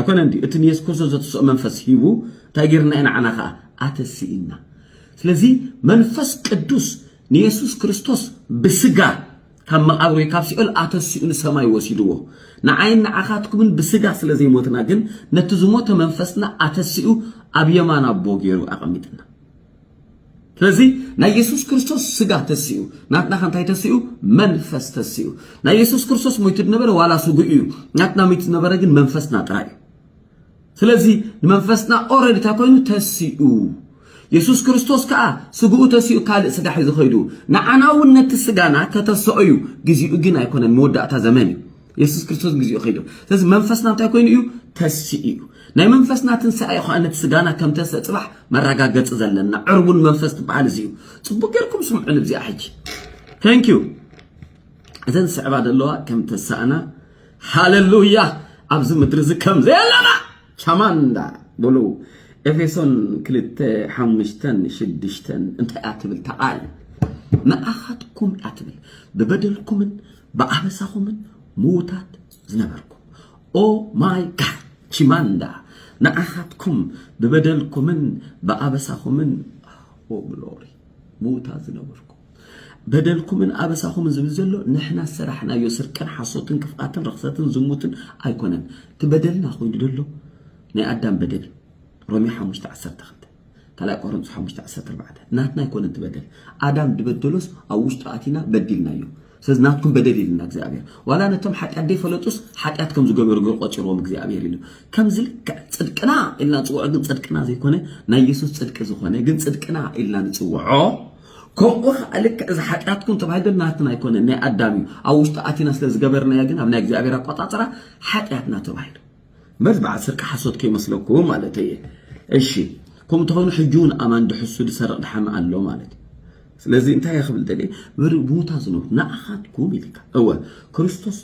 ኣይኮነን ድዩ እቲ ንየሱስ ክርስቶስ ዘትስኦ መንፈስ ሂቡ እንታይ ጌርና ኢና ዓና ከኣ ኣተሲኢና ስለዚ መንፈስ ቅዱስ ንየሱስ ክርስቶስ ብስጋ ካብ መቓብር ወይ ካብ ሲኦል ኣተሲኡ ንሰማይ ወሲድዎ። ንዓይን ንዓኻትኩምን ብስጋ ስለ ዘይሞትና ግን ነቲ ዝሞተ መንፈስና ኣተሲኡ ኣብ የማን ኣቦ ገይሩ ኣቐሚጥና። ስለዚ ናይ የሱስ ክርስቶስ ስጋ ተሲኡ ናትና ከንታይ ተሲኡ መንፈስ ተሲኡ ናይ የሱስ ክርስቶስ ሞይቱ ዝነበረ ዋላ ስጉኡ እዩ ናትና ሞይቱ ዝነበረ ግን መንፈስና ጥራይ እዩ ስለዚ ንመንፈስና ኦረዲ እንታይ ኮይኑ ተሲኡ የሱስ ክርስቶስ ከዓ ስግኡ ተሲኡ ካልእ ስጋ ሒዙ ኸይዱ ንዓና እውን ነቲ ስጋና ከተሰኦ እዩ ግዜኡ ግን ኣይኮነን መወዳእታ ዘመን እዩ የሱስ ክርስቶስ ግዜኡ ከይዱ ስለዚ መንፈስና እንታይ ኮይኑ እዩ ተሲኡ እዩ ናይ መንፈስና ትንሳኤ ኸዓ ነቲ ስጋና ከም ተስእ ፅባሕ መረጋገፂ ዘለና ዕርቡን መንፈስ ትበሃል እዚ እዩ ፅቡቅ ጌርኩም ስምዑን እዚኣ ሕጂ ተንኪዩ እዘን ዝስዕባ ዘለዋ ከም ተሳእና ሃለሉያ ኣብዚ ምድሪ እዚ ከም ዘየለና ቻማንዳ ብሉ ኤፌሶን ክልተ ሓሙሽተን ሽዱሽተን እንታይ እያ ትብል ተቓል ንኣኻትኩም እያ ትብል ብበደልኩምን ብኣበሳኹምን ምዉታት ዝነበርኩም ኦ ማይ ጋድ ቺማንዳ ንኣኻትኩም ብበደልኩምን ብኣበሳኹምን ኦ ግሎሪ ምዉታት ዝነበርኩም በደልኩምን ኣበሳኹምን ዝብል ዘሎ ንሕና ዝሰራሕናዮ ስርቅን ሓሶትን ክፍኣትን ርኽሰትን ዝሙትን ኣይኮነን እቲ በደልና ኮይኑ ዘሎ ናይ ኣዳም በደል ሮሜ ሓሙሽተ ዓሰርተ ክልተ ካልኣይ ቆሮንቶስ ሓሙሽተ ዓሰርተ ኣርባዕተ ናትና ኣይኮነን እቲ በደል ኣዳም ድበደሎስ ኣብ ውሽጡ ኣቲና በዲልናዮ ስለዚ ናትኩም በደል ኢልና እግዚኣብሔር ዋላ ነቶም ሓጢኣት ደይፈለጡስ ሓጢኣት ከም ዝገበሩ ገር ቆፂርዎም እግዚኣብሔር ኢሉ ከምዚ ልክዕ ፅድቅና ኢልና ንፅውዖ ግን ፅድቅና ዘይኮነ ናይ የሱስ ፅድቂ ዝኾነ ግን ፅድቅና ኢልና ንፅውዖ ከምኡ ከኣ ልክዕ እዚ ሓጢኣትኩም ተባሂሉ ግን ናትና ኣይኮነን ናይ ኣዳም እዩ ኣብ ውሽጡ ኣቲና ስለ ዝገበርናዮ ግን ኣብ ናይ እግዚኣብሔር ኣቆጻጽራ ሓጢኣትና ተባሂሉ መዝ በዓል ስርቂ ሓሶት ከይመስለኩም ማለት እየ እሺ ከምኡ ተኾይኑ ሕጂ እውን ኣማን ድሕሱ ድሰርቕ ድሓሚ ኣሎ ማለት እዩ ስለዚ እንታይ ክብል ደልየ ብሙታ ዝነብሩ ንኣኻትኩም ኢልካ እወ ክርስቶስ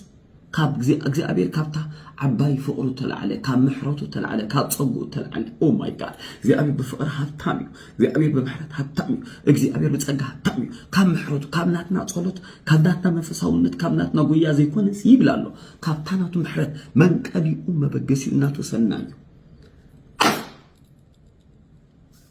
ካብ እግዚ- እግዚኣብሔር ካብታ ዓባይ ፍቅሩ ተላዕለ ካብ ምሕረቱ ተላዕለ ካብ ጸጉኡ ተላዕለ ኦ ማይ ጋድ እግዚኣብሔር ብፍቅሪ ሃብታም እዩ እግዚኣብሔር ብምሕረት ሃብታም እዩ እግዚኣብሔር ብጸጋ ሃብታም እዩ ካብ ምሕረቱ ካብ ናትና ጸሎት ካብ ናትና መንፈሳውነት ካብ ናትና ጉያ ዘይኮነስ ይብል ኣሎ ካብታ ናቱ ምሕረት መንቀሊኡ መበገሲኡ እናተወሰና እዩ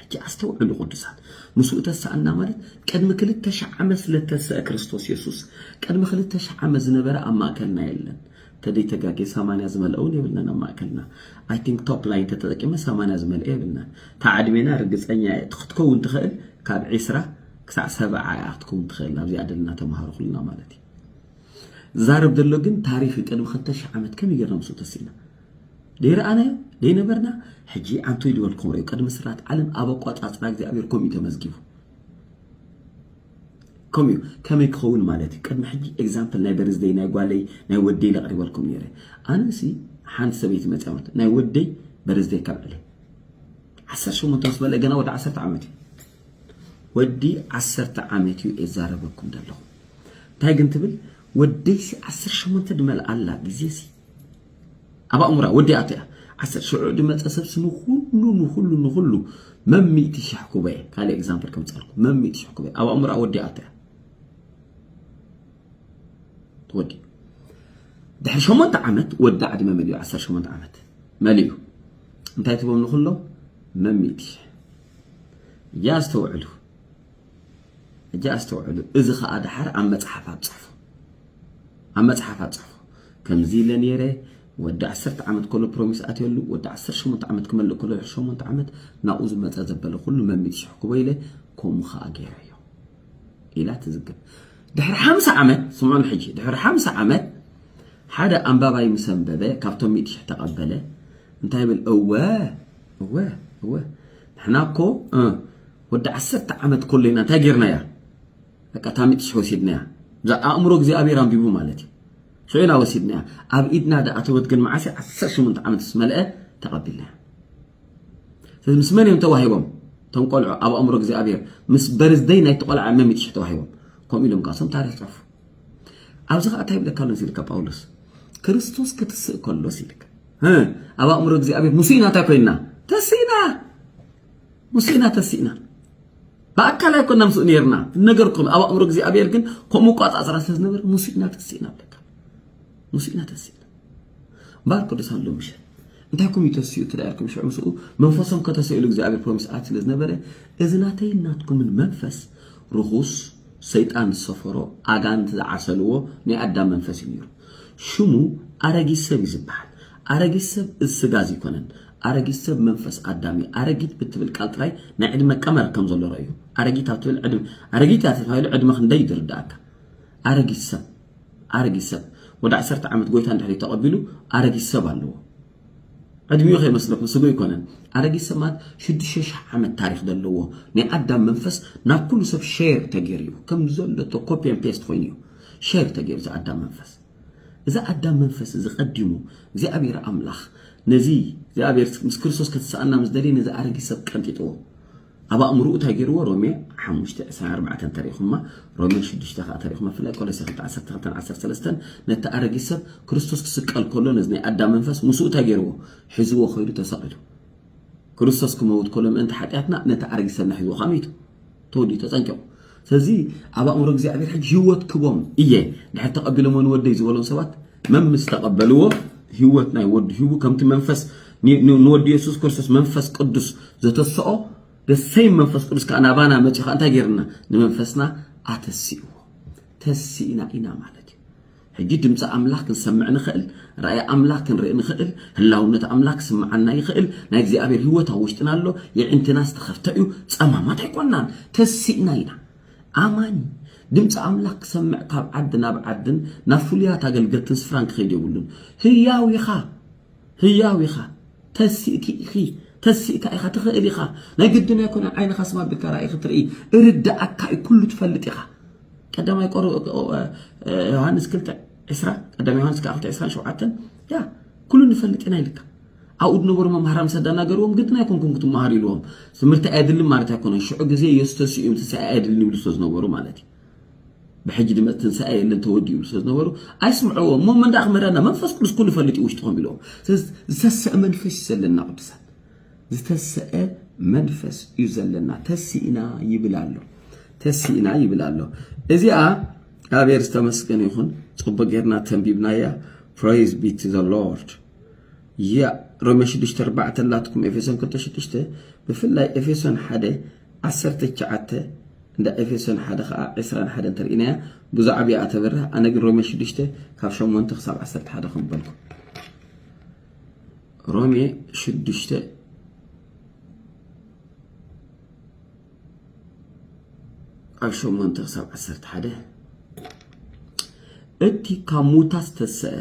ሕጂ ኣስተውዕሉ ቅዱሳን፣ ምስኡ ተሳእና ማለት ቅድሚ ክልተ ሽሕ ዓመት ስለ እተንሰኣ ክርስቶስ የሱስ፣ ቅድሚ ክልተ ሽሕ ዓመት ዝነበረ ኣብ ማእከልና የለን። ተደይ ተጋጌ ሰማንያ ዝመልኣ ውን የብልናን ኣብ ማእከልና i think top line ተተጠቂመ ሰማንያ ዝመልኣ የብልናን እታ ዕድሜና ርግጸኛ እየ እቲ ክትከውን ትኽእል ካብ ዒስራ ክሳዕ ሰብዓ እያ ክትከውን ትኽእል ናብዚኣ ደልና ተማሃሩ ኩልና ማለት እዩ ዝዛረብ ዘሎ ግን ታሪኽ እዩ ቅድሚ ክልተ ሽሕ ዓመት ከመይ ጌርና ምስኡ ተሲእና ደይረኣናዮ ደይነበርና ሕጂ ኣንቱ ይድበልኩም ርዩ ቅድሚ ስራት ዓለም ኣብ ኣቋጻጽራ እግዚኣብሔር ከምኡ ተመዝጊቡ ከምኡ ከመይ ክኸውን ማለት እዩ ቅድሚ ሕጂ ኤግዛምፕል ናይ በርዝደይ ናይ ጓለይ ናይ ወደይ ለቕሪበልኩም ነይረ ኣነሲ ሓንቲ ሰበይቲ መፅያ ማለት ናይ ወደይ በርዝደይ ካብ ዕለ ዓሰርተ ሸሞንተ ምስ በለ ገና ወዲ ዓሰርተ ዓመት እዩ ወዲ ዓሰርተ ዓመት እዩ የዛረበኩም ዘለኹ እንታይ ግን ትብል ወደይሲ ዓሰርተ ሸሞንተ ድመልኣላ ግዜሲ ኣብ ኣእሙራ ወዲኣቶ እያ ዓሰርተ ሽዑ ድመጸ ሰብ ስሙ ኩሉ ንኩሉ ንኩሉ መም ሚእቲ ሽሕ ኩበየ ካልእ ኤግዛምፕል ከምጻልኩ መም ሚእቲ ሽሕ ኩበየ ኣብ ኣእሙራ ወዲኣቶ እያ ተወዲ ድሕሪ ሸሞንተ ዓመት ወዲ ዕድመ መሊኡ ዓሰርተ ሸሞንተ ዓመት መሊኡ እንታይ ትብሎም ንኩሎም መም ሚእቲ ሽሕ እያ ኣስተውዕሉ ሕጂ ኣስተውዕሉ፣ እዚ ኸኣ ደሓር ኣብ መጽሓፍ ኣብጽሕፉ፣ ኣብ መጽሓፍ ኣብጽሕፉ፣ ከምዚ ኢለ ነይረ፣ ወዲ ዓሰርተ ዓመት ከሎ ፕሮሚስ ኣትየሉ፣ ወዲ ዓሰርተ ሸሞንተ ዓመት ክመልእ ከሎ ድሕሪ ሸሞንተ ዓመት ናብኡ ዝመጸ ዘበለ ኩሉ መሚት ሽሕ ክቦ ኢለ ከምኡ ኸኣ ገይረዮ ኢላ ትዝግብ። ድሕሪ ሓምሳ ዓመት ስምዑን ሕጂ፣ ድሕሪ ሓምሳ ዓመት ሓደ ኣንባባይ ምስ ኣንበበ ካብቶም ሚእቲ ሽሕ ተቐበለ እንታይ ይብል እወ እወ እወ ንሕና እኮ ወዲ ዓሰርተ ዓመት ኮለይና እንታይ ጌርናያ በቃ ታሚጥስ ወሲድናያ እዛ ኣእምሮ እግዚኣብሔር ኣንቢቡ ማለት እዩ ሶይና ወሲድናያ ኣብ ኢድና ደኣተወት ግን መዓሰ 18 ዓመት ዝመልአ ተቐቢልናያ ስለዚ ምስ መን እዮም ተዋሂቦም እቶም ቆልዑ ኣብ ኣእምሮ እግዚኣብሔር ምስ በርዝደይ ናይቲ ቆልዓ መሚጥ ሽሕ ተዋሂቦም ከምኡ ኢሎም ካሶም ታሪክ ጸፉ ኣብዚ ከዓ እንታይ ይብለካ ኣሎ ኢልካ ጳውሎስ ክርስቶስ ክትስእ ከሎስ ኢልካ ኣብ ኣእምሮ እግዚኣብሔር ሙሴና እንታይ ኮይንና ተሲእና ምስ ኢና ተሲእና ብኣካል ኣይኮና ምስ ነርና ነገርኩም ኣብ ኣእምሮ እግዚኣብሔር ግን ከምኡ ቋፃፅራ ስለዝነበር ምስ ኢና ተሲእና ኣለካ ምስ ኢና ተሲእና ባር ቅዱሳን ሎሚ ምሸት እንታይኩም ይተስኡ ትዳርኩም ሽዑ ምስኡ መንፈሶም ከተሰእሉ እግዚኣብሔር ፕሮሚስ ኣት ስለ ዝነበረ እዚ ናተይ ናትኩምን መንፈስ ርኹስ ሰይጣን ዝሰፈሮ ኣጋንንቲ ዝዓሰልዎ ናይ ኣዳም መንፈስ እዩ ነይሩ ሽሙ ኣረጊት ሰብ እዩ ዝበሃል ኣረጊት ሰብ እዝ ስጋ ዝይኮነን ኣረጊት ሰብ መንፈስ ኣዳም እዩ ኣረጊት ብትብል ቃል ጥራይ ናይ ዕድመ ቀመር ከም ዘሎ ረእዩ ኣረጊት ኣብ ትብል ዕድመ ኣረጊት እያ ተታይሉ ዕድመ ክንደይ እዩ ዝርዳእካ ኣረጊት ሰብ ኣረጊት ሰብ ወደ ዓሰርተ ዓመት ጎይታ እንድሕሪ ተቐቢሉ ኣረጊት ሰብ ኣለዎ ዕድሚኡ ከይመስለኩም ስጉ ይኮነን ኣረጊት ሰብ ማለት ሽዱሽተ ሽሕ ዓመት ታሪክ ዘለዎ ናይ ኣዳም መንፈስ ናብ ኩሉ ሰብ ሼር ተገይሩ እዩ ከም ዘሎ ኮፒን ፔስት ኮይኑ እዩ ሼር ተገይሩ እዚ ኣዳም መንፈስ እዚ ኣዳም መንፈስ እዚ ቀዲሙ እግዚኣብሔር ኣምላኽ ነዚ እግዚኣብሔር ምስ ክርስቶስ ከተሳእና ምስ ደልየ ነዚ ኣረጊት ሰብ ቀንጢጥዎ ኣብ ኣእምሮኡ እንታይ ገይርዎ ሮሜ 5 24 እንተሪኢኹማ ሮሜ 6 ከዓ ተሪኢኹማ ብፍላይ ቆሎሴ 2 12 13 ነቲ ኣረጊት ሰብ ክርስቶስ ክስቀል ከሎ ነዚ ናይ ኣዳም መንፈስ ምስኡ እንታይ ገይርዎ ሒዝዎ ከይዱ ተሰቒሉ ክርስቶስ ክመውት ኮሎ ምእንቲ ሓጢኣትና ነቲ ኣረጊት ሰብና ሒዝዎ ከኣ መይቱ ተወዲኡ ተጸንቂቑ ስለዚ ኣብ ኣእምሮ እግዚኣብሔር ሕጂ ህይወት ክቦም እየ ድሕር ተቐቢሎሞ ንወደይ ዝበሎም ሰባት መም ምስ ተቐበልዎ ህይወት ናይ ወዱ ሂቡ ከምቲ መንፈስ ንወዲ የሱስ ክርስቶስ መንፈስ ቅዱስ ዘተስኦ ደሰይ መንፈስ ቅዱስ ከዓ ናባና መፂ ከዓ እንታይ ገይርና ንመንፈስና ኣተሲእዎ ተሲእና ኢና ማለት እዩ ሕጂ ድምጺ ኣምላኽ ክንሰምዕ ንኽእል፣ ራእይ ኣምላኽ ክንርኢ ንኽእል፣ ህላውነት ኣምላኽ ክስምዓና ይኽእል፣ ናይ እግዚኣብሔር ሕይወት ኣብ ውሽጥና ኣሎ፣ የዒንትና ዝተኸፍተ እዩ፣ ጸማማት ኣይኮናን፣ ተሲእና ኢና። ኣማኒ ድምጺ ኣምላኽ ክሰምዕ ካብ ዓዲ ናብ ዓድን ናብ ፍሉያት ኣገልገልትን ስፍራን ክኸይድ የብሉን። ህያው ኢኻ ህያው ኢኻ ተሲእኪ ኢኺ ተሲእካ ኢኻ ትኽእል ኢኻ ናይ ግድን ኣይኮነን ዓይንኻ ስማ ኣቢልካ ራእይ ክትርኢ እርዳኣካ እዩ ኩሉ ትፈልጥ ኢኻ ቀዳማይ ቆሮ ዮሃንስ ክልተ ዕስራ ቀዳማይ ዮሃንስ ከዓ ክልተ ዕስራን ሸውዓተን ያ ኩሉ ንፈልጥ ኢና ኢልካ ኣብኡ ዝነበሩ መምሃራ ምስ ኣዳናገርዎም ግድን ኣይኮንኩም ክትመሃሩ ኢልዎም ትምህርቲ ኣየድልን ማለት ኣይኮነን ሽዑ ግዜ ኢየሱስ ተሲኡ እዮም ትንሳኤ ኣየድልን ይብሉ ስለ ዝነበሩ ማለት እዩ ብሕጂ ድመጽ ትንሳኤ የለን ተወዲኡ ኢሉ ስለዝነበሩ ኣይስምዕዎ እሞ መንዳ ክምህረና መንፈስ ቅዱስ ኩሉ ይፈልጥ እዩ ውሽጥኹም ኢልዎም ስለዚ ዝተሰእ መንፈስ እዩ ዘለና ቅዱሳን ዝተሰአ መንፈስ እዩ ዘለና ተሲእና ይብል ኣሎ ተሲእና ይብል ኣሎ እዚኣ እግዚኣብሔር ዝተመስገን ይኹን ፅቡቅ ጌርና ተንቢብናያ ፕራይዝ ቢ ቱ ዘ ሎርድ ያ ሮሜ 6 4 ኣላትኩም ኤፌሶን 2 ብፍላይ ኤፌሶን ሓደ ዓሰርተ ትሽዓተ እንዳ ኤፌሶን ሓደ ኸኣ ዕስራን ሓደን እንተርኢናያ ብዙሕ ዓብያ እያ ተብርህ ኣነ ግን ሮሜ ሽዱሽተ ካብ ሸሞንተ ክሳብ ዓሰርተ ሓደ ከም በልኩ ሮሜ ሽዱሽተ ኣብ ሸሞንተ ክሳብ ዓሰርተ ሓደ እቲ ካብ ሙታት ዝተሰአ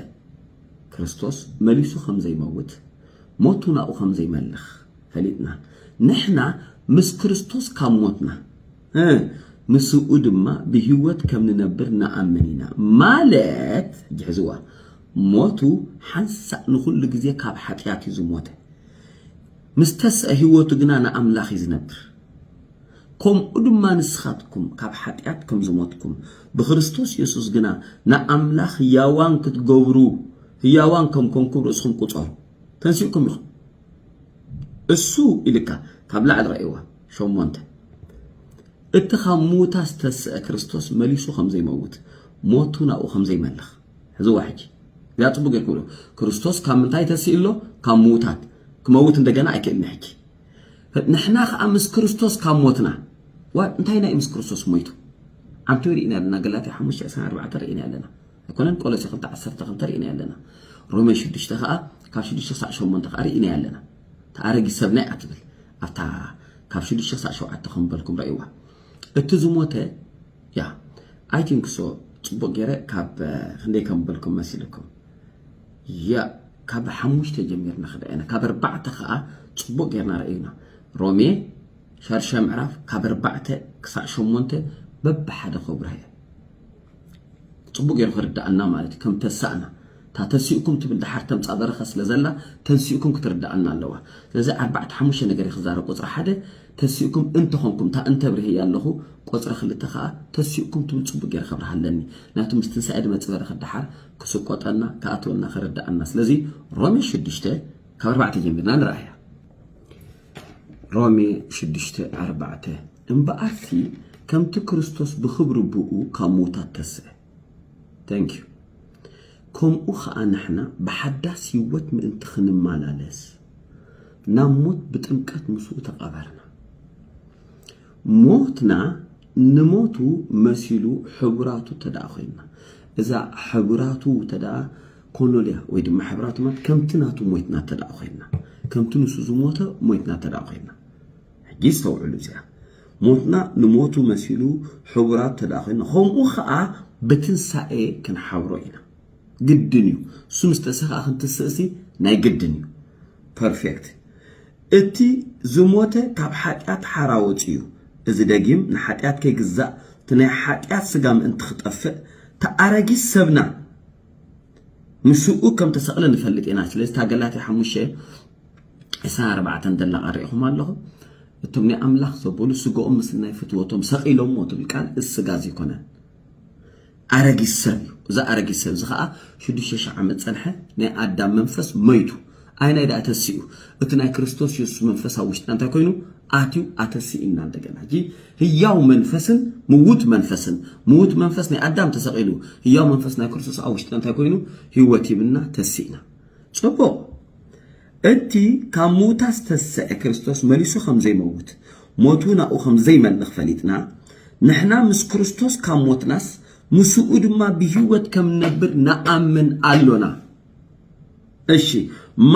ክርስቶስ መሊሱ ከም ዘይመውት ሞቱ ናብኡ ከም ዘይመልኽ ፈሊጥና ንሕና ምስ ክርስቶስ ካብ ሞትና እ ምስኡ ድማ ብህይወት ከም ንነብር ንኣምን ኢና ማለት እጅ ሕዝዋ ሞቱ ሓንሳእ ንኹሉ ግዜ ካብ ሓጢኣት እዩ ዝሞተ ምስ ተስአ ህይወቱ ግና ንኣምላኽ እዩ ዝነብር ከምኡ ድማ ንስኻትኩም ካብ ሓጢኣት ከም ዝሞትኩም ብክርስቶስ የሱስ ግና ንኣምላኽ ህያዋን ክትገብሩ ህያዋን ከም ኮንኩም ርእስኹም ቁጸሩ ተንሲእኩም ኢኹም እሱ ኢልካ ካብ ላዕሊ ረእይዋ ሸሞንተ እቲ ካብ ምዉታ ዝተስአ ክርስቶስ መሊሱ ከም ዘይመውት ሞቱ ናብኡ ከም ዘይመልኽ ሕዝዋ ሕጂ እዚኣ ጽቡቅ ጌርኩም ዶ ክርስቶስ ካብ ምንታይ ተስኢ ኣሎ ካብ ምዉታት ክመውት እንደገና ኣይክእልን ሕጂ ንሕና ከዓ ምስ ክርስቶስ ካብ ሞትና እንታይ ናይ ምስ ክርስቶስ ሞይቱ ዓንቱ ርኢና ኣለና ገላትያ ሓሙሽተ ዕስራን ኣርባዕተን ርኢና ኣለና ኣይኮነን ቆሎሴ ክልተ ዓሰርተ ክልተ ሪኢናዮ ኣለና ሮሜ ሽዱሽተ ከኣ ካብ ሽዱሽተ ክሳዕ ሸሞንተ ከኣ ሪኢናያ ኣለና እቲ ኣረጊት ሰብና እያ ትብል ኣብታ ካብ ሽዱሽተ ክሳዕ ሸውዓተ ከም በልኩም ረእይዋ እቲ ዝሞተ ያ ኣይ ቲንክ ሶ ጽቡቅ ገይረ ካብ ክንደይ ከም በልኩም መሲልኩም ያ ካብ ሓሙሽተ ጀሚርና ክደኣና ካብ ኣርባዕተ ከኣ ጽቡቅ ገይርና ረእዩና ሮሜ ሻድሻይ ምዕራፍ ካብ ኣርባዕተ ክሳዕ ሸሞንተ በብሓደ ከብርሃ እየ ጽቡቅ ጌሩ ክርዳኣና ማለት እዩ ከም ተሳእና እታ ተሲእኩም ትብል ደሓር ተምጻ በረኸ ስለ ዘላ ተንሲእኩም ክትርዳኣና ኣለዋ ስለዚ ዓርባዕተ ሓሙሽተ ነገር እዩ ክዛረብ ቁጽሪ ሓደ ተሲእኩም እንተ ኾንኩም እታ እንተ ኣብሪሀያ ኣለኹ ቆጽሪ ክልተ ከኣ ተሲእኩም ትብል ጽቡቅ ጌረ ከብርሃ ኣለኒ ምክንያቱ ምስ ትንሳኤ ድመጽ በረኸ ደሓር ክስቆጠና ክኣትወና ክርዳኣና ስለዚ ሮሜ ሽዱሽተ ካብ ኣርባዕተ ጀሚርና ንረኣያ ሮሜ ሽዱሽተ ኣርባዕተ እምበኣርሲ ከምቲ ክርስቶስ ብኽብሪ ብእኡ ካብ ምዉታት ተስእ Thank you ከምኡ ኸኣ ንሕና ብሓዳስ ህይወት ምእንቲ ኽንመላለስ ናብ ሞት ብጥምቀት ምስኡ ተቐበርና። ሞትና ንሞቱ መሲሉ ሕቡራቱ እንተ ደኣ ኾይንና እዛ ሕቡራቱ እንተ ደኣ ኮኖልያ ወይ ድማ ሕብራቱ ማለት ከምቲ ናቱ ሞይትና እንተ ደኣ ኾይንና ከምቲ ንሱ ዝሞተ ሞይትና እንተ ደኣ ኾይንና ሕጂ ኣስተውዕሉ እዚኣ ሞትና ንሞቱ መሲሉ ሕቡራት ተደኣ ኮይና ከምኡ ከኣ ብትንሳኤ ክንሓብሮ ኢና ግድን እዩ እሱ ምስ ተሰክኣ ክንትስእሲ ናይ ግድን እዩ ፐርፌክት እቲ ዝሞተ ካብ ሓጢኣት ሓራ ወፂኡ እዚ ደጊም ንሓጢኣት ከይግዛእ እቲ ናይ ሓጢኣት ስጋ ምእንቲ ክጠፍእ ተኣረጊስ ሰብና ምስኡ ከም ተሰቕለ ንፈልጥ ኢና ስለዚ ታገላትያ ሓሙሽተ ዕስራን ኣርባዕተን ደላቓ ርኢኹም ኣለኹም። እቶም ናይ ኣምላኽ ዘበሉ ስጋኦም ምስ ናይ ፍትወቶም ሰቒሎምዎ ትብል ቃል እዚ ስጋ እዚ ኣይኮነን ኣረጊት ሰብ እዩ እዚ ኣረጊት ሰብ እዚ ከዓ ሽዱሽተ ሽሕ ዓመት ፀንሐ ናይ ኣዳም መንፈስ መይቱ ኣይናይ ዳኣ ተሲኡ እቲ ናይ ክርስቶስ የሱስ መንፈስ ኣብ ውሽጥና እንታይ ኮይኑ ኣትዩ ኣተሲእና እንደገና ሕጂ ህያው መንፈስን ምውት መንፈስን ምውት መንፈስ ናይ ኣዳም ተሰቒሉ ህያው መንፈስ ናይ ክርስቶስ ኣብ ውሽጥና እንታይ ኮይኑ ህይወት ይብና ተሲእና ጽቡቕ፣ እቲ ካብ ምዉታት ዝተስዐ ክርስቶስ መሊሱ ከም ዘይመውት፣ ሞት እውን ኣብኡ ከም ዘይመልኽ ፈሊጥና፣ ንሕና ምስ ክርስቶስ ካብ ሞትናስ፣ ምስኡ ድማ ብህይወት ከም ንነብር ንኣምን ኣሎና። እሺ፣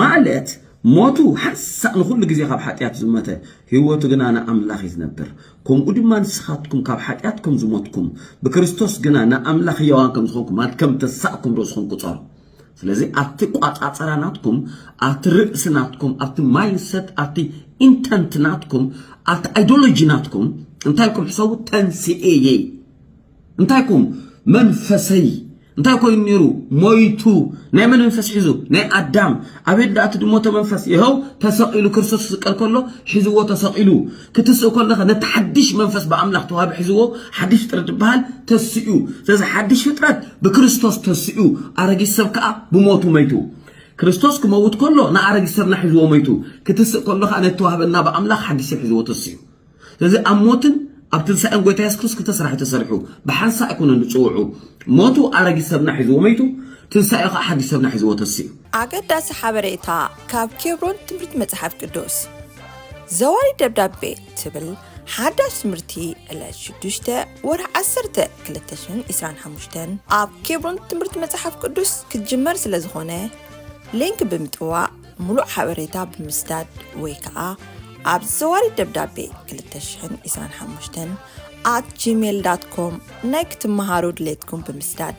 ማለት ሞቱ ሓንሳእ ንኹሉ ግዜ ካብ ሓጢኣት ዝሞተ፣ ህይወቱ ግና ንኣምላኽ እዩ ዝነብር። ከምኡ ድማ ንስኻትኩም ካብ ሓጢኣት ከም ዝሞትኩም፣ ብክርስቶስ ግና ንኣምላኽ ህያዋን ከም ዝኾንኩም፣ ማለት ከም እተሳእኩም ርእስኹም ቁጸሩ። ስለዚ ኣብቲ ቋጻጸራ ናትኩም ኣብቲ ርእሲ ናትኩም ኣብቲ ማይንሰት ኣብቲ ኢንተንት ናትኩም ኣብቲ ኣይዶሎጂ ናትኩም እንታይ ኩም ሕሰቡ ተንስኤየይ እንታይ ኩም መንፈሰይ እንታይ ኮይኑ ነይሩ ሞይቱ ናይ መን መንፈስ ሒዙ ናይ ኣዳም ኣቤት ደኣ እቲ ድሞተ መንፈስ ይኸው ተሰቒሉ ክርስቶስ ዝስቀል ከሎ ሒዝዎ ተሰቒሉ ክትስእ ከለኻ ነቲ ሓድሽ መንፈስ ብኣምላኽ ተዋህብ ሒዝዎ ሓድሽ ፍጥረት ዝበሃል ተስኡ ስለዚ ሓድሽ ፍጥረት ብክርስቶስ ተስኡ ኣረጊት ሰብ ከዓ ብሞቱ መይቱ ክርስቶስ ክመውት ከሎ ንኣረጊት ሰብና ሒዝዎ መይቱ ክትስእ ከሎ ከዓ ነቲ ተዋህበና ብኣምላኽ ሓድሽ ሰብ ሒዝዎ ተስኡ ስለዚ ኣብ ሞትን ኣብ ትንሳኤን ጎይታ የሱስ ክርስቶስ ክልተ ስራሕ ተሰሪሑ ብሓንሳእ ኣይኮነን ዝፅውዑ ሞቱ ኣረጊት ሰብና ሒዝዎ መይቱ ትንሳኤ ከዓ ሓድሽ ሰብና ሒዝዎ ተስኡ ኣገዳሲ ሓበሬታ ካብ ኬብሮን ትምህርቲ መጽሓፍ ቅዱስ ዘዋሪ ደብዳቤ ትብል ሓዳሽ ትምህርቲ ዕለት 6 ወርሒ 1 225 ኣብ ኬብሮን ትምህርቲ መጽሓፍ ቅዱስ ክትጅመር ስለ ዝኾነ ሊንክ ብምጥዋቕ ምሉእ ሓበሬታ ብምስዳድ ወይ ከዓ ኣብ ዘዋሪ ደብዳቤ 225 ኣት ጂሜል ዳት ኮም ናይ ክትመሃሩ ድሌትኩም ብምስዳድ